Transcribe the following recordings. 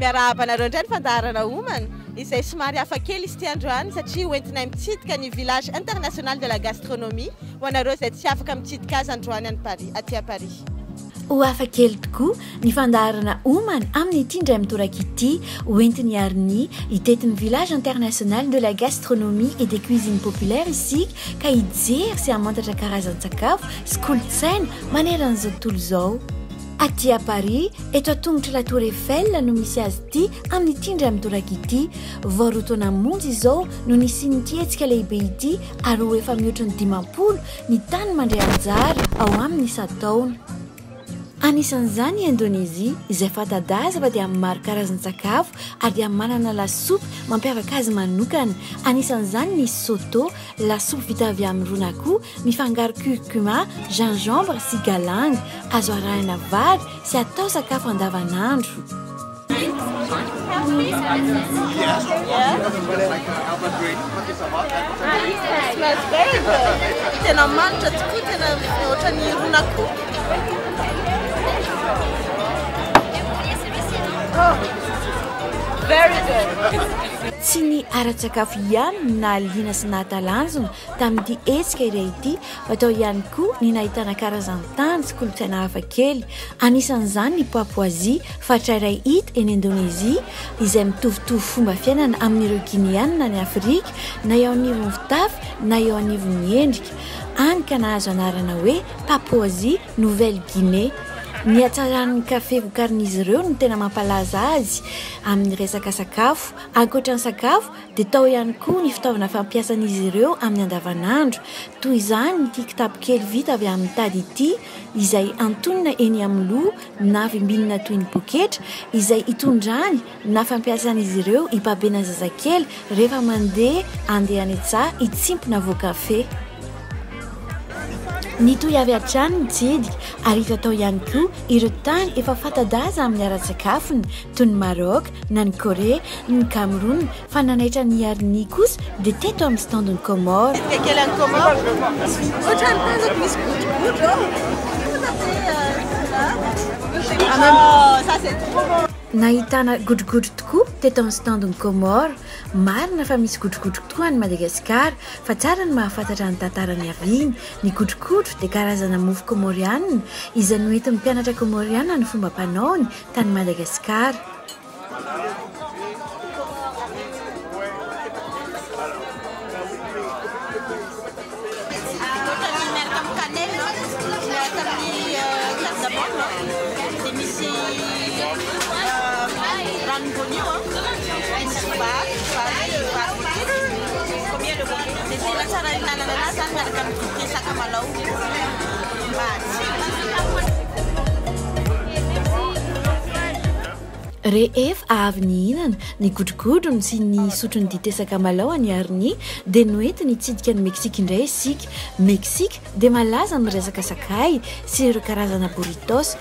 Miarahaba anareo indray ny fandaharana Homana, izay somary hafa kely izy ity androany satria ho entinay mitsidika ny Village International de la Gastronomie ho anareo izay tsy afaka mitsidika azy androany any Paris, aty à Paris. Ho hafa kely tokoa ny fandaharana Homana amin'ity indray mitoraka ity ho entin'i Arnie hitety ny Village International de la Gastronomie et des Cuisines Populaires isika ka hijery sy hamantatra karazan-tsakafo sy kolontsaina maneran'izao tontolo izao. Aty à Paris, eto an-tongotr'la Tour Eiffel no misy azy ity amin'ity indray mitoraka ity. Vao roa taona monja izao no nisian'ity hetsika lehibe ity ary ho efa mihoatra ny dimampolo ny tany mandray anjara ao aminy isan-taona. Anisan'izany i Indonezia izay fanta-daza fa dia amin'ny maro karazan-tsakafo ary dia manana lasopy mampiavaka azy manokana. Anisan'izany ny soto, lasopy vita avy amin'ny ron'akoho Mifangaro curcuma, gingembre sy galang. Azo arahina vary sy atao sakafo andavanandro. Tena manitra tokoa, tena ohatran'ny iron'akoho. Very good. Tsy ny ara-tsakafo ihany no nahaliana sy nahatalanjona Tamin'ity hetsika iray ity, hatao ihany koa ny nahitana karazan-tany sy kolontsaina hafa kely, anisan'izany ny Papoazia, faritra iray hita eny Indonezia, izay mitovitovy fomba fiainana amin'ireo Gineana any Afrika, na eo anivon'ny fitafy na eo anivon'ny endrika, hany ka nahazo anarana hoe Papoazia, Nouvelle-Guinée. Ny hatsaran'ny kafe vokarin'izy ireo no tena mampalaza azy amin'ny resaka sakafo, ankoatra ny sakafo, dia tao ihany koa ny fitaovana fampiasan'izy ireo amin'ny andavanandro, toy izany ity kitapo kely vita avy amin'ny tady ity, izay antonona eny amin'ny loha na vimbinina toy ny poketra, izay itondrany na fampiasan'izy ireo hibabena zazakely rehefa mandeha handeha any an-tsaha hitsipy na voan-kafe. Nitohy avy hatrany ny tsidika ary hita tao ihany koa ireo tany efa fanta-daza amin'ny ara-tsakafony, toy ny Maroc, na ny Corée, ny Cameroun, fa nanaitra an'i Yarni kosa dia teto amin'ny stand ny Comores. Dia kely any Comores. Ohatrany tazako misy godrogodro ao. Oh, ça c'est trop bon. Nahitana godrogodro tokoa teto amin'ny stand ny Comores. Marina fa misy godrogodro tokoa any Madagasikara, fa tsara ny mahafantatra ny tantara niaviany. Ny godrogodro dia karazana mofo Comoriana izay noentin'ny mpianatra Comoriana ny fomba fanaony tany Madagasikara. Rehefa avy nihinana, nigodrogodrona sy nisotro ny dite sakamalao an'i Arni, dia noentiny hitsidika an'i Meksika indray isika. Meksika dia malaza amin'ny resaka sakay sy ireo karazana burritos,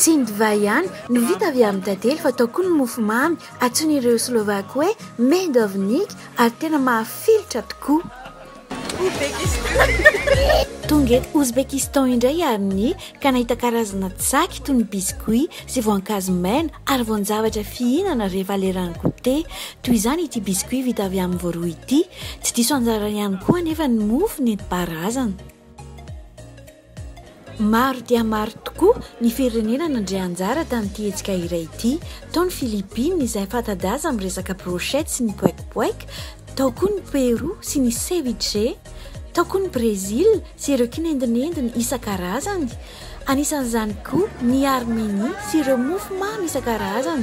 Tsy ny divay ihany no vita avy amin'ny tantely fa tao koa ny mofomamy antsoin'ireo Slovaky hoe medovnik ary tena mahafilotra tokoa. Tonga eto Ouzbékistan indray aho ninia ka nahita karazana tsaky toy ny biscuits sy voankazo maina ary voan-javatra fihinana rehefa leran'ny goûter. Toy izany ity biscuits vita avy amin'ny voaroy ity. Tsy diso anjarany ihany koa anefa ny mofo nentim-paharazana. Maro dia maro tokoa ny firenena nandray anjara tamin'ity hetsika iray ity. Tao ny Philippines izay fanta-daza amin'ny resaka brochettes sy ny poek poek, tao koa ny Pérou sy ny ceviche, tao koa ny Brésil sy ireo kinendinendiny isan-karazany, Anisan'izany koa ny armenia sy ireo mofo mamy isan-karazany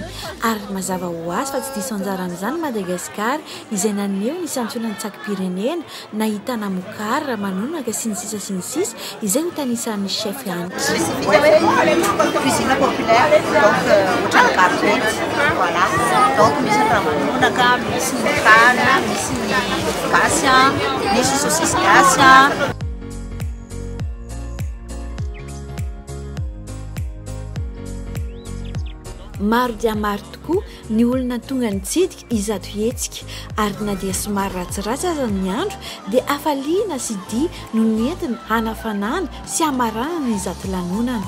ary mazava ho azy fa tsy diso anjara amin'izany i Madagasikara izay naneho ny santionan'ny tsakim-pirenena nahitana mokary, ramanonaka sy ny sisa sy ny sisa izay hotanisarin'ny chef any. Maro dia maro tokoa ny olona tonga nitsidika izato hetsika ary na dia somary ratsiratsy aza ny andro dia hafaliana sy dia no nentina hanafanana sy hamaranana izato lanonana.